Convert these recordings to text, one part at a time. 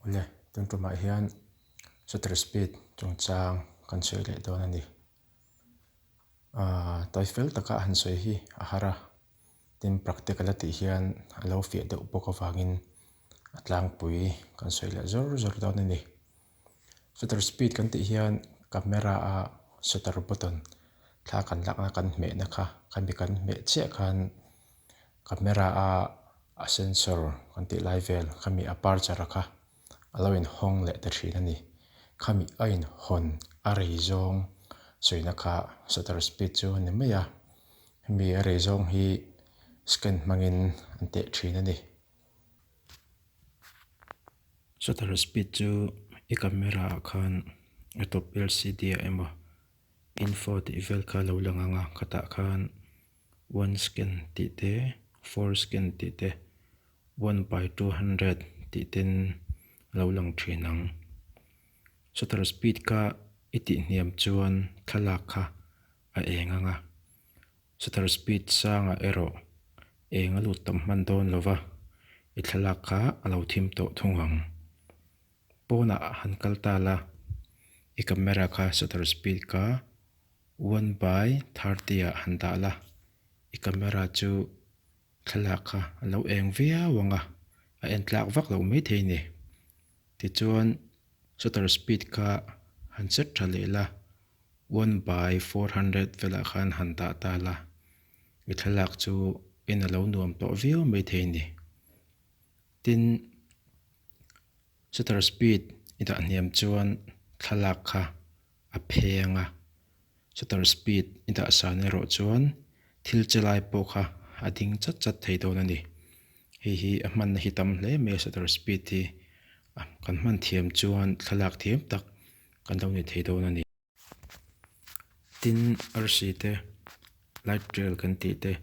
Awle, tun tumah hian shutter speed chungchang kan sawi leh dawn a ni. Aaa tawi fel taka han sawi hi a har a, tin practical a tih hian a lo fiah deuh bawk avangin a tlangpui kan sawi leh zawr zawr dawn a ni. Shutter speed kan tih hian camera a shutter button thla kan lakna kan hmehna kha khami kan hmeh chiah khan camera a a sensor kan tih lai vel khami aperture kha a lo in hawng leh ta thin a ni khami a in hawn a rei zawng suihna kha shutter speed chu a ni mai a hemi a rei zawng hi scan hmangin an teh thin a ni. Shutter speed chu i camera ah khan a top lcd ah emaw info tih vel kha lo lang anga khatah khan one scan tih te four scan tih te one by two hundred tih ten lo lang thin ang shutter speed kha i tih hniam chuan thlalak kha-- a eng ang a, shutter speed sangah erawh eng a lut tam hman dawn lo va, i thlalak kha a lo thim tawh thung ang. Pawnah a han kal ta la, i camera kha shutter speed ka one by thirty ah han dah la, i camera chu thlalak kha a lo eng viau ang a, a en tlak vak lo maithei ni. Tichuan, shutter speed kha han set tha leh la, one by four hundred velah khan han dah ta la, i thlalak chu in a lo nuam tawh viau mai thei ni. Tin, shutter speed i dah hniam chuan thlalak kha a pheng a, shutter speed i dah san erawh chuan thil che lai pawh kha a ding chat chat thei dawn a ni. Hei hi a hmanna hi tam hle mai a shutter speed hi, a kan hman thiam chuan thlalak thiam tak kan lo ni thei dawn a ni. Tin, arsi te, light rail kan tih te,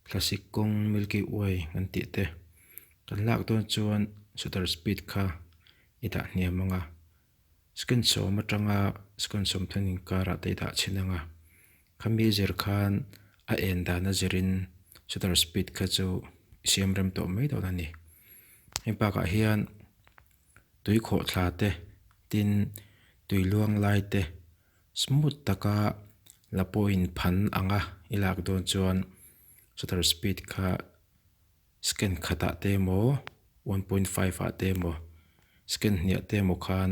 classic kawng, milky way kan tih te, kan lak dawn chuan shutter speed kha i dah hniam ang a. Screen sawm atanga screen sawm thlang inkar ah taidah chhin anga khami zir khan a en dana zirin shutter speed kha chu i siam rem tawh mai dawn a ni. Heng bakah hian tui khawh thla te tin tui luang lai te smooth taka la pawhin phan anga i lak dawn chuan shutter speed kha Scan khatah te emaw one point five ah te emaw scan hniah te emaw khan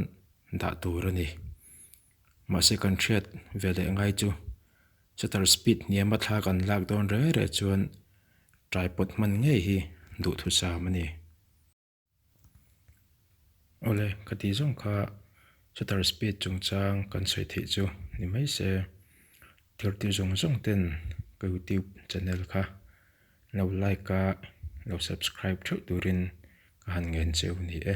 dah tur a ni. Mahse kan hriat ve leh ngai chu shutter speed hniama thla kan lak dawn reh reh chuan tripod hman ngei hi duhthusam a ni. Awle, ka tih zawng kha shutter speed chungchang kan sawi theih chu ni mai se. Thirtu zawng zawng ten ka youtube channel kha lo like a, lo subscribe theuh turin ka han ngen cheu ni e.